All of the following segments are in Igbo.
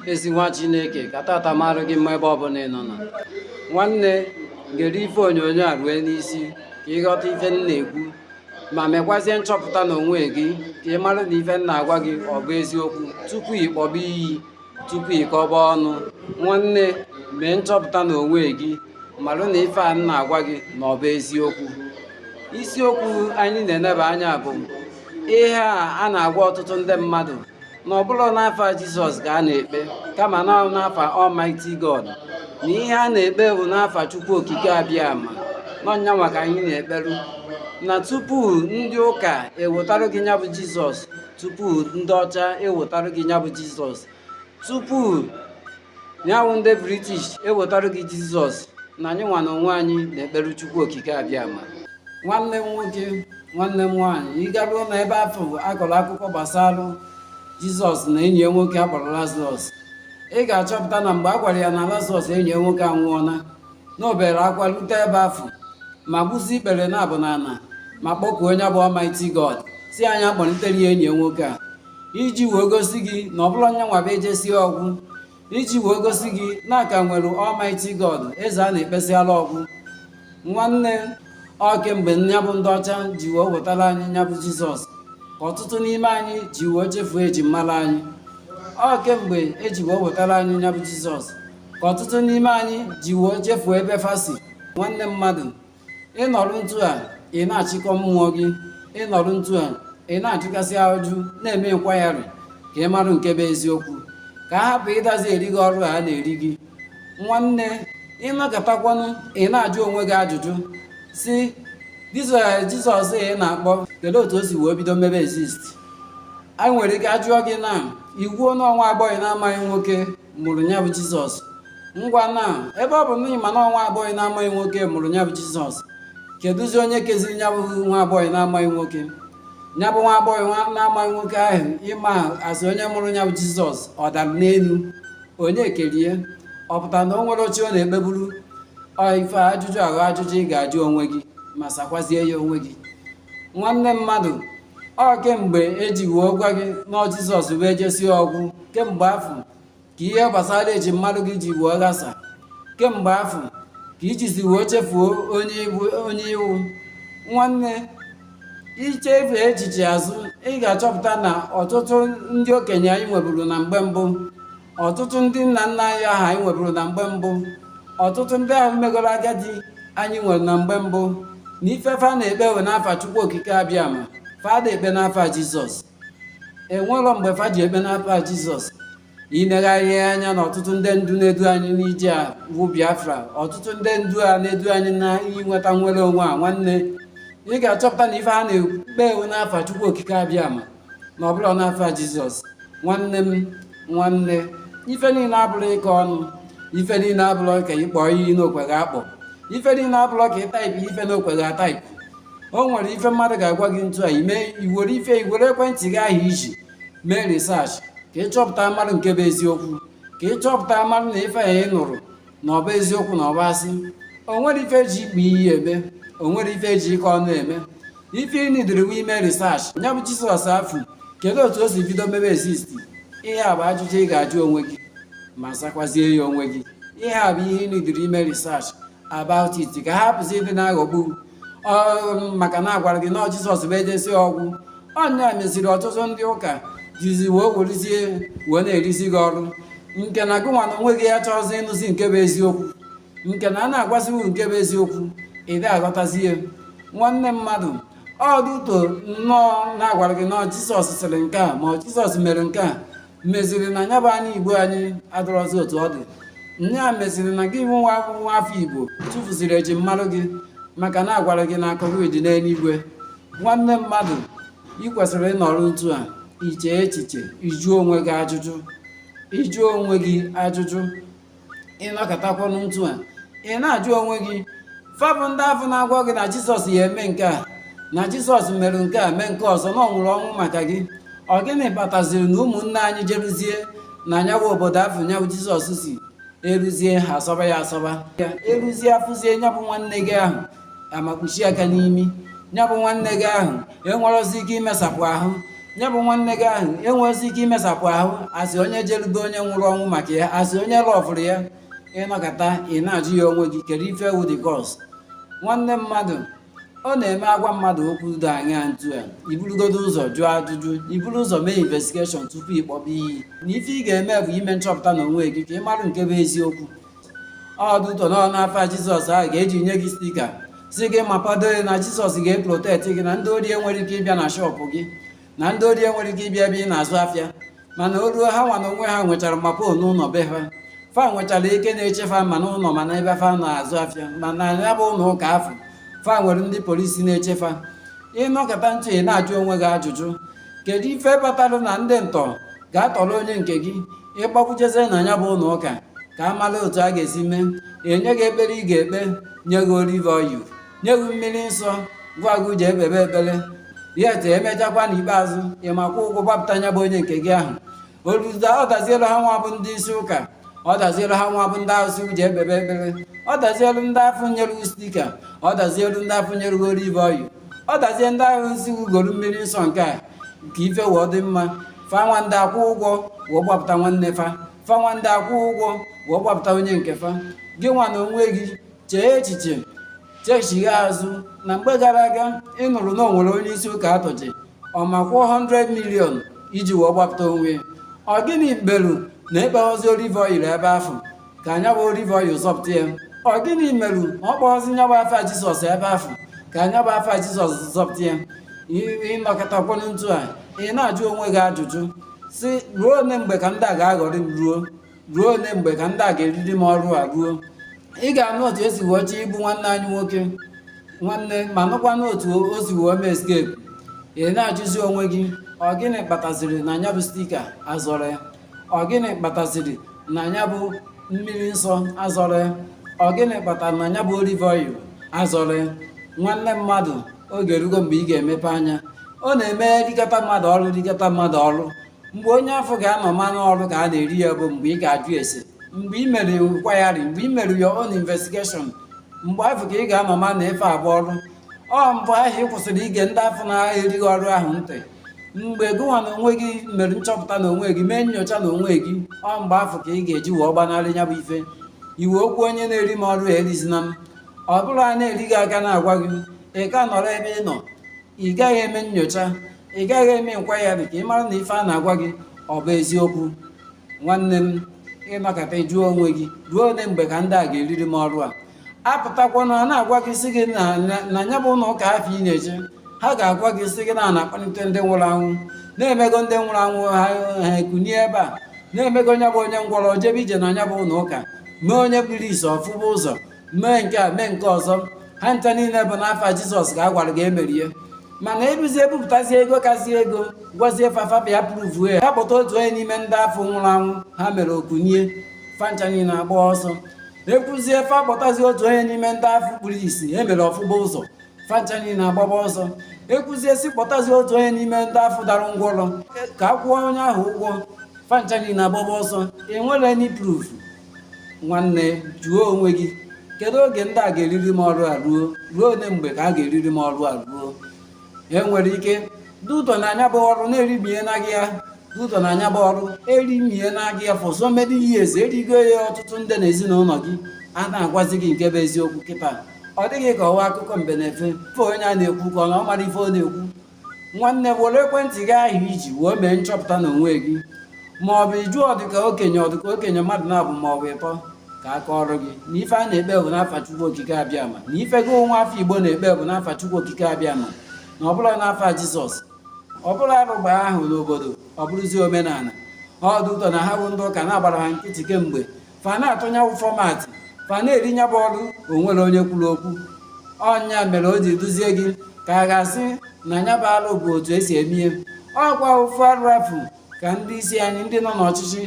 ezi nwa chineke ka tata marụ gị mma ebe ọbụna ị nọ na nwanne gere ife onyonyo a rue n'isi ka ị ghọta ife m na-ekwu ma mekwazie nchọpụta n'onwe gị ka ị marụ na ife m na-agwa gị ọ bụ eziokwu tupu ị kpọba iyi tupu ị kọba ọnụ nwanne mee nchọpụta n'onwe gị marụ na ife a m na-agwa gị na ọ bụ eziokwu isiokwu anyị na-eneba anya bụ ihe a a na-agwa ọtụtụ ndị mmadụ na ọ bụrọ n'afa jizọs ka a na-ekpe kama na ọ n'afa almighty god na ihe a na-ekpe bụ n'afa chukwu okike abịama na ọ nyanwa ka anyị na-ekperu na tupu ndị ụka ewetarụ gị nya bụ jizọs tupu ndị ọcha ewetarụ gị nya bụ jizọs tupu nya wụ ndị british ewetarụ gị jizọs na anyị nwa na onwe anyị na-ekperu chukwu okike abịama nwanne m nwoke nwanne m nwaanyị ị garuo na ebe afụ a kọrọ akụkọ gbasara jizọs na enyi ya nwoke a kpọrọ lazarọs ị ga-achọpụta na mgbe a gwara ya na lazarọs enyi ya nwoke anwụọla na o bere akwa rute ebe afụ ma gbuzie ikpere naabọ n'ana ma kpọkuo onye bụ Almighty God sị ya nya kpọnitere ya enyi ya nwoke a iji wee gosi gị na ọ bụrọ nyanwa bụ ejesie ọ gwụ iji wee gosi gị na a ka nwere Almighty God eze a na-ekpesịala ọ gwụ nwanne ọ kemgbe nya bụ ndị ọcha ji wee wetara anyị nya bụ Jizọs ka ọtụtụ n'ime anyị ji wee chefuo eji mara anyị ọ kemgbe e ji wee wetara anyị nya bụ Jizọs ka ọtụtụ n'ime anyị ji wee chefuo ebe fa si nwanne mmadụ ị nọrụ ntu a ị na-achịkọ mmụọ gị ị nọrụ ntu a ị na-ajụkasị ajụjụ na-eme inquiry ka ị marụ nke bụ eziokwu ka a hapụ ịdazi eri gị ọrụ a na-eri gị nwanne ị nọkatakwanụ ị na-ajụ onwe gị ajụjụ sị jizọs ị na-akpọ kedu otu o si wee bido mebe exist anyị nwere ike ajụọ gị na ị kwuo na ọ nwa agbọghọ na-amaghị nwoke mụrụ nya bụ jizọs ngwa na ebe ọ bụ na ị ma na ọ nwa agbọghọ na-amaghị nwoke mụrụ nya bụ jizọs keduzi onye keziri nya bụ nwa agbọghọ na-amaghị nwoke nya bụ nwa agbọghọ na-amaghị nwoke ahụ ị ma a sị onye mụrụ nya bụ jizọs ọ dara n'enu onye kere ya ọ pụta na o nwere chi ọ na-ekpeburu ọ ife ajụjụ ahụ ajụjụ ị ga-ajụ onwe gị ma sakwazie ya onwe gị nwanne mmadụ ọ kemgbe e ji wee gwa gị na ọ jizọs bụ ejesie ọ gwụ kemgbe afụ ka ihe gbasara eji mara gị ji wee ghasa kemgbe afụ ka i jizi wee chefuo onye ị wụ nwanne i chefee echiche azụ ị ga-achọpụta na ọtụtụ ndị okenye anyị nweburu na mgbe mbụ ọtụtụ ndị nna nna anyị ahụ anyị nweburu na mgbe mbụ ọtụtụ ndị ahụ megoro agadi anyị nwere na mgbe mbụ na ife fa na-ekpe wụ n'afa chukwu okike abịama fa ada ekpe n'afa jizọs enwero mgbe fa ji ekpe n'afa jizọs i negharịa anya na ọtụtụ ndị ndu na-edu anyị n'ije a bụ biafra ọtụtụ ndị ndu a na-edu anyị na inweta nnwere onwe a nwanne ị ga-achọpụta na ife ha na-ekpe wụ n'afa chukwu okike abịama na ọ bụrọ n'afa jizọs nwanne m nwanne ife niile abụrọ ịkọ ọnụ ife niile abụrọ ka ị kpọọ iyi n'okweghị akpọ ife niile abụrọ ka ị taịpụ ife n'okweghị ataịpụ o nwere ife mmadụ ga-agwa gị ntu a ime i were ife i were ekwentị gị ahụ i ji mee risach ka ị chọpụta marụ nke bụ eziokwu ka ị chọpụta marụ na ife a ị nụrụ na ọ bụ eziokwu na ọ bụ asị o nwere ife eji ịkpọ iyi eme o nwere ife eji ịkọ ọnụ eme ife ị nidiri wụ ime research ya bụ jizọs afụ kedu otu o si bido mebe exist ihe a bụ ajụjụ ị ga-ajụ onwe gị ma sakwazie ya onwe gị ihe a bụ ihe ị nidiri ime research about it ka a hapụzi ịdị na-aghọgbu maka na a gwara gị na Jizọs bụ ejesi ọgwụ ọ nya meziri ọtụtụ ndị ụka jizi wee werizie wee na-erizi gị ọrụ nke na gị nwa na onwe gị achọrọzi ịnụzi nke bụ eziokwu nke na a na-agwazi gị nke bụ eziokwu ị da aghọtazi ya nwanne mmadụ ọ dị ụtọ nnọọ na a gwara gị na Jizọs sịrị nke a ma Jizọs mere nke a meziri na nya bụ ana igbo anyị adịrọzi otu ọ dị nya meziri na gị nwa nwa afọ igbo tụfuziri eji marụ gị maka na a gwara gị na akụ gị dị n'eluigwe nwanne mmadụ ị kwesịrị ịnọrọ ntu a iche echiche ịjụ onwe gị ajụjụ ịjụ onwe gị ajụjụ ị nọkatakwanụ ntu a ị na-ajụ onwe gị fa bụ ndị afụ na-agwa gị na jizọs ya eme nke a na jizọs mere nke a mee nke ọzọ na ọ nwụrụ ọnwụ maka gị ọ gịnị kpataziri na ụmụnne anyị jeruzie na nya wụ obodo afụ nya wụ jizọs si eruzie ha asọba ya asọba eruzie afụzie nya bụ nwanne gị ahụ amakpuchie aka n'imi ya bụ nwanne gị ahụ enwerọzi ike imesapụ ahụ ya bụ nwanne gị ahụ enwerọzi ike imesapụ ahụ a sị onye jelu be onye nwụrụ ọnwụ maka ya asị onye lọfụrụ ya ị nọkata ị na-ajụ ya onwe gị kedu ife wụ the cause nwanne mmadụ ọ na-eme a gwa mmadụ okwu dị anya ntu a i burugodu ụzọ jụọ ajụjụ i buru ụzọ mee investigeshọn tupu ịkpọba iyi na ife ị ga-eme bụ ime nchọpụta na onwe gị ka ị mara nke bụ eziokwu ọ dị ụtọ nnọọ n'afa jizọs ahụ ka e ji nye gị stika sị gị ma kwado gị na jizọs ga-eprotekt gị na ndị ori enwerọ ike ịbịa na shọpụ gị na ndị ori enwerọ ike ịbịa ebe ị na-azụ afịa mana o ruo ha nwa na onwe ha nwechara mopọl n'ụlọ be ha fa nwechara ike na-eche fa ma n'ụlọ ma na ebe fa na-azụ afịa ma na ya bụ ụlọ ụka afụ fa nwere ndị polisi na-eche fa ị nọkata ntu a ị na-ajụ onwe gị ajụjụ kedu ife kpatara na ndị ntọ ga-atọrọ onye nke gị ị gbakwujezie na nya bụ ụlọ ụka ka a mara otu a ga-esi mee e nye gị ekpere ị ga-ekpe nye gị olive oil nye gị mmiri nsọ gwa gị ji ekpebe ekpere ya te emechakwa n'ikpeazụ ị ma kwụọ ụgwọ gbapụta nya bụ onye nke gị ahụ ọ da ọ dazielu ha nwa bụ ndị isi ụka ọ dazielu ha nwa bụ ndị ahụ sị ji ekpebe ekpere ọ dazielu ndị afụ nyere sticker ọ dazielu ndị afụ nyere olive oil ọ dazie ndị ahụ sị goro mmiri nsọ nke a ka ife wee dị mma fa nwanda akwụ ụgwọ wee gbapụta nwanne fa fa nwanda akwụ ụgwọ wee gbapụta onye nke fa gị nwa na onwe gị chee echiche chechigha azụ na mgbe gara aga ị nụrụ na o nwere onye isi ụka a tọji ọ ma kwụọ 100 million iji wee gbapụta onwe ya. ọ gịnị merụ na ekpeghozi olive oil ebe afụ ka nya bụ olive oil zọpụta ya ọ gịnị merụ na ọ kpọghọzi nya bụ afa jizọs ebe afụ ka nya bụ afa jizọs zọpụta ya ị nọkatakwanụ etu a ị na-ajụ onwe gị ajụjụ sị ruo one mgbe ka ndị a ga-aghọrị m ruo ruo one mgbe ka ndị a ga-eriri m ọrụ a ruo ị ga-anụ otu e si wee chọọ igbu nwanne anyị nwoke nwanne ma nụkwanụ otu o si wee mee escape ị na-ajụzi onwe gị ọ gịnị kpataziri na nya bụ sticker azọrọ ya ọ gịnị kpataziri na nya bụ mmiri nsọ azọrọ ya ọ gịnị kpatara na nya bụ olive oil azọrọ ya nwanne mmadụ oge erugo mgbe ị ga-emepe anya ọ na-eme rikata mmadụ ọrụ rikata mmadụ ọrụ mgbe onye afụ ga-anọ ma na ọrụ ka a na-eri ya bụ mgbe ị ga-ajụ ese mgbe ị mere enquiry mgbe ị mere your own investigation mgbe afụ ka ị ga-anọ ma na ife a bụ ọrụ ọ mgbe ahụ ị kwụsịrị ige ndị afụ na-eri gị ọrụ ahụ ntị mgbe gụnwa na onwe gị mere nchọpụta na onwe gị mee nyocha na onwe gị ọ mgbe afụ ka ị ga-eji wee gbanarị ya bụ ife i wee kwuo onye na-eri m ọrụ erizina m ọ bụrụ a na-eri gị a ka na-agwa gị ị ka nọrọ ebe ị nọ ị gaghị eme nyocha ị gaghị eme enquiry ka ị mara na ife a na-agwa gị ọ bụ eziokwu nwanne m ị nọkata jụọ onwe gị ruo one mgbe ka ndị a ga-eriri m ọrụ a a pụtakwanụ a na-agwa gị sị gị na na- na ya bụ ụlọ ụka afụ ị na-eje ha ga-agwa gị sị gị na a na-akpọlite ndị nwụrụ anwụ na-emego ndị nwụrụ anwụ ha ha ekunie ebe a na-emego onye bụ onye ngwọrọ jebe ije na ya bụ ụlọ ụka mee onye kpuru isi ọ fụba ụzọ mee nke a mee nke ọzọ ha ncha niile bụ n'afa jizọs ka a gwara gị e mere ya mana e buzi e bupụtazi ego kasị ego gwazie fa fa bịa prove ya ha kpọta otu onye n'ime ndị afụ nwụrụ anwụ ha mere o kunie fa ncha niile agba ọsọ e kwuzie fa kpọtazi otu onye n'ime ndị afụ kpuru isi e mere ọ fụba ụzọ fa ncha niile agbaba ọsọ e kwuzie sị kpọtazi otu onye n'ime ndị afụ dara ngwọrọ ka a kwụọ onye ahụ ụgwọ fa ncha niile agbaba ọsọ enwerọ any proof nwanne jụọ onwe gị kedu oge ndị a ga-eriri m ọrụ a ruo ruo one mgbe ka a ga-eriri m ọrụ a ruo e nwere ike due to na nya bụ ọrụ na-erimie na gị ya due to na nya bụ ọrụ erimie na gị ya for so many years erigo ya ọtụtụ ndị na ezinụlọ gị a na-agwazi gị nke bụ eziokwu kịta ọ dị gị ka ọ wụ akụkọ mbe na efe fe onye a na-ekwu ka ọ na ọ mara ife ọ na-ekwu nwanne were ekwentị gị ahụ i ji wee mee nchọpụta n'onwe gị ma ọ bụ ị jụọ dịka okenye ọ dịka okenye mmadụ naabọ ma ọ bụ ịtọ ka a kọọrọ gị na ife a na-ekpe bụ n'afa Chukwu Okike Abịama na ife gị nwa afọ Igbo na-ekpe bụ n'afa Chukwu Okike Abịama na ọ bụrọ n'afa Jizọs ọ bụ na arụ gbaa afọ n'obodo ọ bụrụzie omenala due to na ha bụ ndị ụka na-agbara ha nkịtị kemgbe fa na-atụ nya wụ format fa na-eri nya bụ ọrụ o nwerọ onye kwuru okwu ọ nya mere o ji dịzie gị ka a ga-asị na nya bụ alụ bụ otu esi eme ihe ọkwa ofu arụ afụ ka ndị isi anyị ndị nọ n'ọchịchị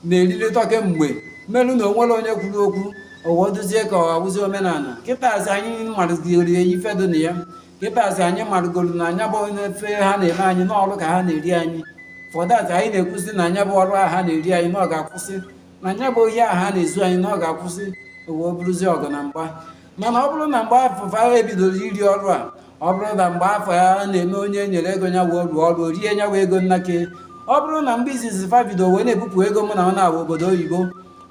na-erilịta kemgbe melu na o nwerọ onye kwuru okwu o wee dịzie ka ọ wụzi omenala kịtazi anyị marụgoro ife dị na ya kịtazi anyị marụgoro na nya bụ ife ha na-eme anyị na ọrụ ka ha na-eri anyị for that anyị na-ekwuzi na nya bụ ọrụ a ha na-eri anyị na ọ ga-akwụsị na nya bụ ohi a ha na-ezu anyị na ọ ga-akwụsị o wee bụrụzi ọgụ na mgba mana ọ bụrụ na mgbe afụ fa bidoro iri ọrụ a ọ bụrụ na mgbe afụ a na-eme onye e nyere ego ya wee rụọ ọrụ rie ya wụ ego na nke ya ọ bụrụ na mgbe izizi fa bido wee na-ebupụ ego mụ na unu nwa obodo oyibo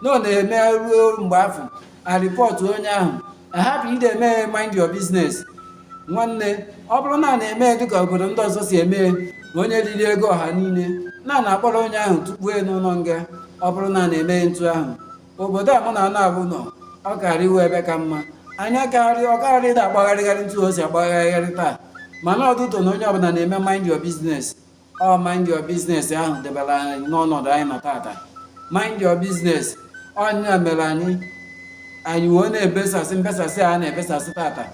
na a na-eme ruo mgbe afụ a report onye ahụ ahapụ ịdị eme mind your business nwanne ọ bụrụ na a na-eme dịka obodo ndị ọzọ si eme onye riri ego ọha niile na a na-akpọrọ onye ahụ tụkpu n'ụlọ nga ọ bụrụ na a na-eme ntu ahụ obodo a mụ na unu nwa nọ ọ karị ịwụ ebe ka mma anya karị ọ karị da agbagharịgharị ntụ o si agbagharịgharị taa mana due to na onye ọbụla na-eme mind your business ọ mind your business ahụ debere anyị n'ọnọdụ anyị nọ tata mind your business ọ nya mere anyị anyị wee na-ebesasị mbesasị a na-ebesasị tata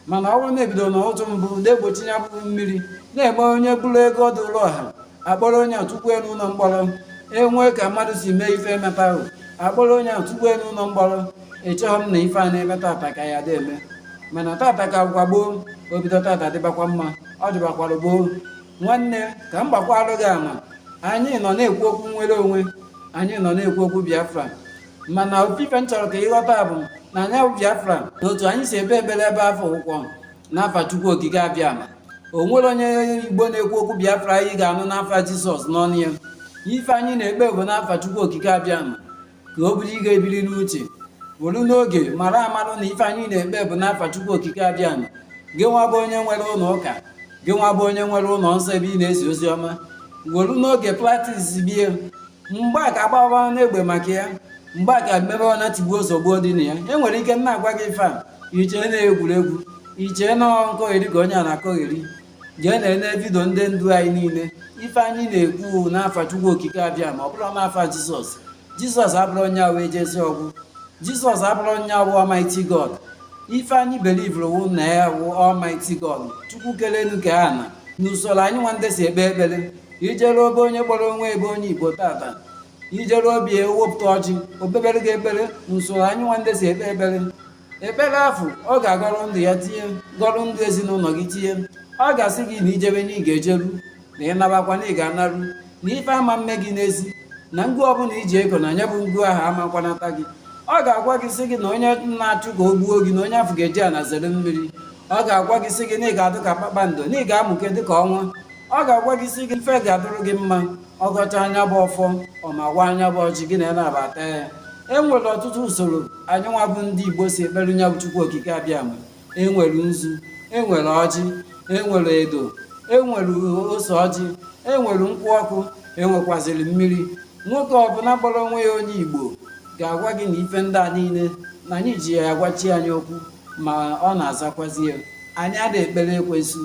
mana ọ wụrụ na e bido n'ụtụ mbụ na-egbochi ya bụ mmiri na-eme onye buru ego dịrị ọha akpọrọ onye a tụkpue n'ụlọ mkpọrọ enwee ka mmadụ si mee ife emetarọ akpọrọ onye a tụkpue n'ụlọ mkpọrọ echeghọ m na ife a na-eme tata ka ya dị eme mana tata ka bụkwa gboo o bido tata dịbakwa mma ọ dịbakwara gboo nwanne ka m gbakwalụ gị ama anyị nọ na-ekwu okwu nnwere onwe anyị nọ na-ekwu okwu biafra mana ofu ife m chọrọ ka ị ghọta bụ na anyị bụ biafra na otu anyị si ekpe ekpere ebe afụ wụkwa n'afa chukwu okike abịama o nwerọ onye igbo na-ekwu okwu biafra ị ga-anụ n'afa jizọs n'ọnụ ya ife anyị na-ekpe bụ n'afa chukwu okike abịama ka ọ bụrụ ị ga-ebiri n'uche welu n'oge mara amarụ na ife anyị na-ekpe bụ n'afa chukwu okike abịama gị nwa bụ onye nwere ụlọ ụka gị nwa bụ onye nwere ụlọ nsọ ebe ị na-ezi ozi ọma welu n'oge practice bie mgbe a ga-agbawa n'egbe maka ya mgbe a ga-emebe ọ na tigbuo zọgbuo dị na ya e nwere ike na-agwa gị ife a i chee na egwuregwu i chee na nkọgheri ka onye a na-akọgheri jee na-ele vidio ndị ndu anyị niile ife anyị na-ekwu n'afa Chukwu Okike Abịama ọ bụrọ n'afa Jizọs Jizọs abụrọ onye awa ejezi ọgwụ Jizọs abụrọ onye wụ Almighty God ife anyị belivụrụ wụ na ya wụ Almighty God Chukwu kelu enu kee ana n'usoro anyị nwa ndị si ekpe ekpere i jeruo be onye kpọrọ onwe ya bụ onye igbo tata i jeru obi e wepụta ọjị o kpebere gị ekpere n'usoro anyị nwa ndị si ekpe ekpere ekpere afụ ọ ga-agọrọ ndụ ya tinye gọrọ ndụ ezinụlọ gị tinye ọ ga-asị gị na i jebe na ị ga-ejeru na ị nabakwa na ị ga-anaru na ife ama mme gị n'ezi na ngụ ọbụla e ji eko na nya bụ ngụ ahụ ama kwanata gị ọ ga-agwa gị sị gị na onye na-achụ ka o gbuo gị na onye afụ ga-eji ana zere mmiri ọ ga-agwa gị sị gị na ị ga-adụ ka kpakpando na ị ga-amụke dị ka ọnwa ọ ga-agwa gị sị gị ife ga-adụrụ gị mma ọ gọchaa nya bụ ọfọ ọ mawaa nya bụ ọjị gị na ya naabọ taa ya e nwere ọtụtụ usoro anyị nwa bụ ndị igbo si ekpere nya bụ chukwu okike abịama e nwere nzu e nwere ọjị e nwere edo e nwere ose ọjị e nwere nkwụ ọkụ e nwekwaziri mmiri nwoke ọbụla kpọrọ onwe ya onye igbo ga-agwa gị na ife ndị a niile na anyị ji ya agwa chi anyị okwu ma ọ na-azakwazi ya anyị ada ekpere ekwensu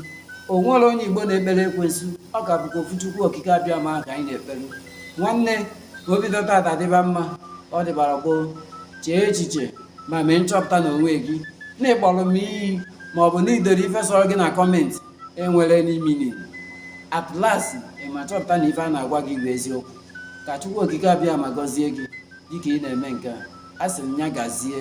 o nwerọ onye igbo na-ekpere ekwensu ọ ka bụkwa ofu chukwu okike abịama ka anyị na-ekpere nwanne o bido tata dịba mma ọ dịbara gboo chee echiche ma mee nchọpụta n'onwe gị na ị kpọrọ m iyi ma ọ bụ na i dere ife sọrọ gị na kọmentị enwerọ meaning at last ị ma chọpụta na ife a na-agwa gị bụ eziokwu ka chukwu okike abịama gọzie gị dịka ị na-eme nke a asị m ya gazie